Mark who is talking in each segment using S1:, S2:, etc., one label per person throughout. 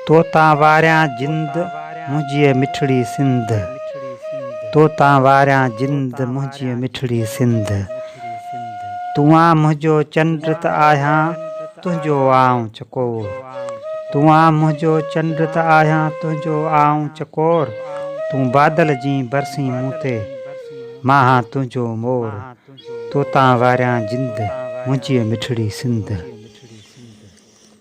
S1: تو تان واريان جند منهنجيء مٺڙي سنڌ تو تان واريان جند منهنجيء مٺڙي سنڌ تون آن منهنجو چنڊ ته آهيان تنهنجو آئون چڪور تون آن منهنجو چنڊ ته آهيان تنهنجو آئون چڪور تون بادل جئين برسين مون تي مان هان تنهنجو مور تو تان واريان جند منهنجيء مٺڙي سنڌ.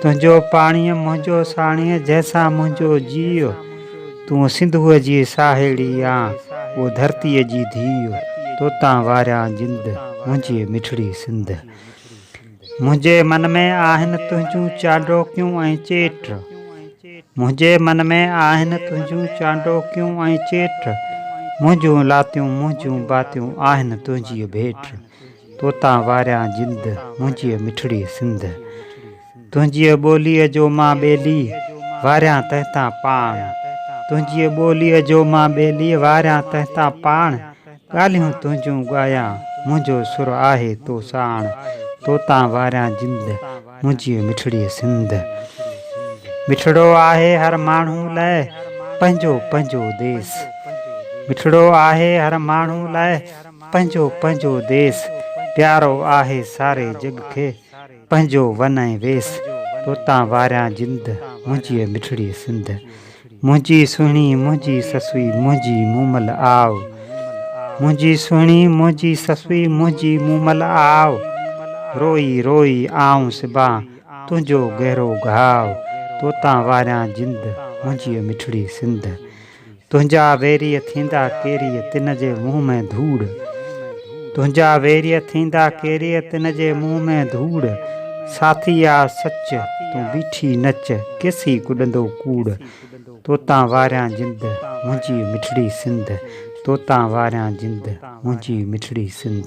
S1: تنهنجو پاڻيء منهنجو ساڻيهه جنهن سان منهنجو جيء تون سنڌوء جي ساهيڙي آن او ڌرتيء جي ڌيء توتان واريان جند منهنجي مٺڙي سنڌ منهنجي من ۾ آهن تنهنجون چانڊوڪيون ۽ چيٽ منهنجي من ۾ آهن تنهنجون چانڊوڪيون ۽ چيٽ منهنجون لاتيون منهنجون باتيون آهن تنهنجيء ڀيٽ. توتان واريان جند منهنجيء مٺڙي سنڌ. تنهنجيء ٻوليء جو مان ٻيلي واريان تنهنتان پاڻ. تنهنجيء ٻوليء جو مان ٻيلي واريان تنهنتان پاڻ. ڳالهيون تنهنجون ڳايان منهنجو سر آهي تو ساڻ. توتان واريان جند منهنجيء مٺڙي سنڌ. مٺڙو آهي هر ماڻهو لاء پنهنجو پنهنجو ديس. مٺڙو آهي هر ماڻهو لاء پنهنجو پنهنجو ديس، پيارو آهي ساري جڳ کي، پنهنجو ون ۽ ويس، توتان واريان جند، منهنجيء مٺڙيء سنڌ. منهنجي سهڻي منهنجي سسئي منهنجي مومل آء. منهنجي سهڻي منهنجي سسئي منهنجي مومل آء. روئي روئي آئون سبان تنهنجو گهرو گهاء، توتان واريان جند، منهنجيء مٺڙيء سنڌ. تنهنجا ويريء ٿيندا ڪيريء تن جي منهن ۾ ڌوڙ تنهنجا ويريء ٿيندا ڪيريء تن جي منهن ۾ ڌوڙ ساٿي آ سچ تون بيٺي نچ ڪيسين ڪڏندو ڪوڙ توتان واريان جند منهنجي مٺڙي سنڌ توتان واريان جند منهنجي مٺڙي سنڌ.